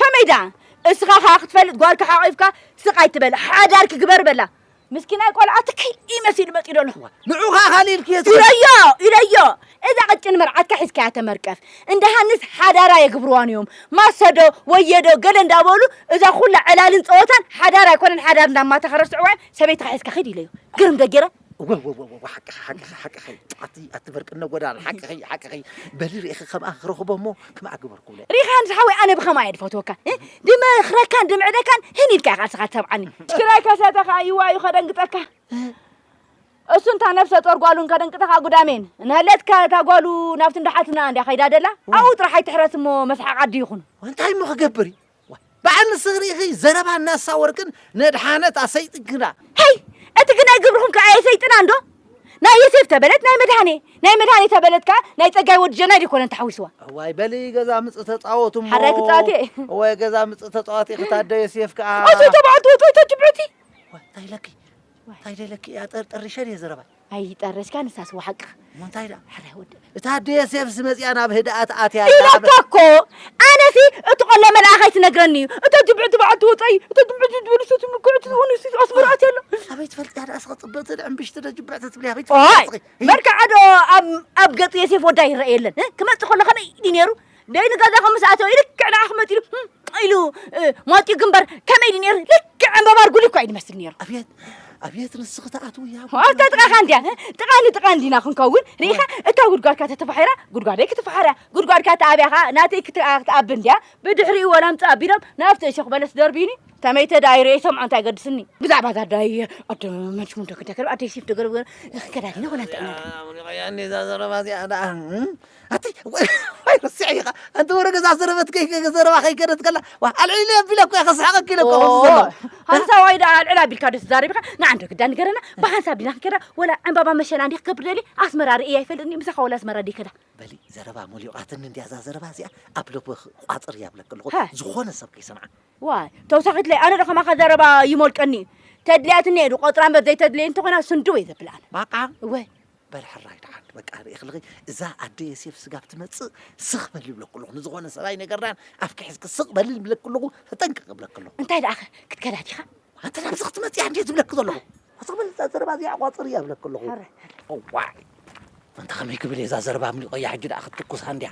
ከመይ ደኣ እስኻ ከኣ ክትፈልጥ ጓልካ ሓቒፍካ ስቕ ኣይትበል ሓዳር ክግበር በላ ምስኪናይ ቆልዓ ትኪ መሲሉ መፂኡ ደሎ ንዑ ከኣ ካልእ ኢልክዮ ኢለዮ ኢለዮ እዛ ቅጭን መርዓትካ ሒዝካያ ተመርቀፍ እንደ ሃንስ ሓዳራ የግብርዋን እዮም ማሰዶ ወየዶ ገለ እንዳበሉ እዛ ኩላ ዕላልን ፀወታን ሓዳር ኣይኮነን ሓዳር እንዳማታ ከረስዕዋ እዮም ሰበይትካ ሒዝካ ኺድ ኢለዮ ግርም ደጌረ እወወወወ ሓቅኺ ሓቅኺ ሓቅኺ ኣቲ ኣቲ በርቅነ ጎዳን ሓቅኺ ሓቅኺ በሊ ርኢኺ ከምኣ ክረኽቦ እሞ ከምኣ ግበርኩለ ሪኻን ዝሓወይ ኣነ ብኸማ እየ ድፈትወካ ድመኽረካን ድምዕደካን ህን ኢልካ ኢኻ ንስኻ ትሰምዓኒ ትግራይ ከሰተ ከዓ ይዋ እዩ ከደንግጠካ እሱ እንታ ነብሰ ጦር ጓሉን ከደንቅጠኻ ጉዳሜን ንህለትካ እታ ጓሉ ናብቲ እንዳሓትና እንዲያ ከይዳ ደላ ኣብኡ ጥራሕ ኣይትሕረስ እሞ መስሓቕ ዓዲ ይኹኑ እንታይ እሞ ክገብር እዩ በዓል ንስኺ ርኢኺ ዘረባ ናሳ ወርቅን ነድሓነት ኣሰይጥን ግና ሄይ እቲ ግናይ ግብርኹም ከዓ የሰይጥና እንዶ ናይ የሴፍ ተበለት ናይ መድሃኔ ናይ መድሃኔ ተበለት ከዓ ናይ ፀጋይ ወዲ ጀናይ ደይኮነን ተሓዊስዋ ዋይ በሊ ገዛ ምፅ ተፃወቱ እሞ ሓራይ ክፃወት እየ ወይ ገዛ ምፅ ተፃወት እየ ክታደ የሴፍ ከዓ ኦሶይ ተባዕልቲ ወፅወይቶ ጅብዑቲ እንታይ ኢለኪ ኣይደለኪ እያ ጠርጠሪሸ ድየ ዘረባይ ኣይጠረሽካ ንሳስ ወሓቅኻ እሞ እንታይ ደኣ ሕራይ ወዲ እታ ኣደ ዮሴፍስ መፂኣ ናብ ህድኣት ኣትያ ኢላቶ እኮ ኣነሲ እቲ ቆሎ መልኣኽ ኣይትነግረኒ እዩ እቶ ጅብዒ ትባዕ ትወፀኢ እቶ ጅብዒ ዝድብል ሰት ምኩዕቲ ዝኾኑ ሲ ኣስመራ ኣትያ ኣሎ ኣበይ ትፈልጥያ ደኣ ስኸ ፅብቕቲ ዕምብሽቲ ዶ ጅብዕቲ ትብልያ ኣበይ ትፈልጥያ ስኺ መርካዓ ዶ ኣብ ገፅ ዮሴፍ ወዳ ይረአ የለን ክመፅእ ከሎ ከመይ ድዩ ነይሩ ደይ ንገዛኹም ምስ ኣተወ ልክዕ ንዓኹም መፂሉ ኢሉ ሟጢኡ ግንባር ከመይ ድዩ ነይሩ ልክዕ ዕምበባ ርጉሊ እኳ እዩ ዝመስል ነይሩ ኣብየት ኣብየት ንስኺ ትኣትው እያ ኣብታ ጥቓኻ እንድያ ጥቓ ንጥቓ እንዲና ክንከውን ርኢኻ እታ ጉድጓድካ ተተፋሒራ ጉድጓደይ ክትፈሓርያ ጉድጓድካ ተኣብያ ከዓ ናተይ ክትኣብ እንድያ ብድሕሪኡ ወላምፅ ኣቢሎም ናብቲ እሸኽ በለስ ደርብዩኒ ተመይተ ደኣ ይርኦ ይሰምዖ እንታይ ገድስኒ ብዛዕባ እዛ ኣዳይ ኣደ መንሽሙ ደክደከር ኣደይ ሲፍ ደገር ክንከዳ ዲና ኮና እንተና ያኔ እዛ ዘረባ እዚኣ ደኣ ኣቲ ዋይ ረሲዐ ኢኻ ኣንቲ ወረ ገዛ ዘረበት ዘረባ ከይከደት ከላ ኣልዒለ ኣቢለ እኮ ከስሓቐኪ ኢለ እኮ ከምዚ ዘሎ ሃንሳዋይ ደኣ ኣልዕል ኣቢልካ ዶ ትዛረብ ኢኻ ንዓንዶ ግዳ ንገረና ብሃንሳብ ዲና ክንከዳ ወላ ዕምባባ መሸና እንዲ ክገብር ደሊ ኣስመራ ርእየ ኣይፈልጥኒ ምሳኻ ወላ ኣስመራ ደይ ከዳ በሊ ዘረባ ሞሊቋትኒ እንዲያ እዛ ዘረባ እዚኣ ኣብ ልቢ ቋፅር እያ ብለክ ኣለኹ ዝኾነ ሰብ ከይሰምዓ ዋይ ተውሳኺትለይ ኣነ ዶ ከማኻ ዘረባ ይሞልቀኒ እዩ ተድልያትኒ እየ ዶ ቆፅራ እምበር ዘይተድልየ እንተኾይና ስንድው እየ ዘብላ ኣነ ባቃ እወ በል ሕራይ ደሓን በቃ ርኢኽልኺ እዛ ኣደ የሴፍ ስጋብ ትመጽእ ስኽ በል ይብለኩ ኣለኹ ንዝኾነ ሰብኣይ ነገርናን ኣብኪ ሕዝኪ ስቕ በል ይብለኩ ኣለኹ ተጠንቅቕ ይብለኩ ኣለኹ እንታይ ደኣ ክትከዳ ዲኻ ኣንተ ናብዚ ክትመጽእ እንዴት ዝብለኪ ዘለኹ ስኽ በል እዛ ዘረባ እዚኣ ቋጽር እያ ይብለኩ ኣለኹ ዋይ ኣንታ ከመይ ክብል እየ እዛ ዘረባ ኣምሊቖያ ሕጂ ደኣ ክትትኩሳ እንድያ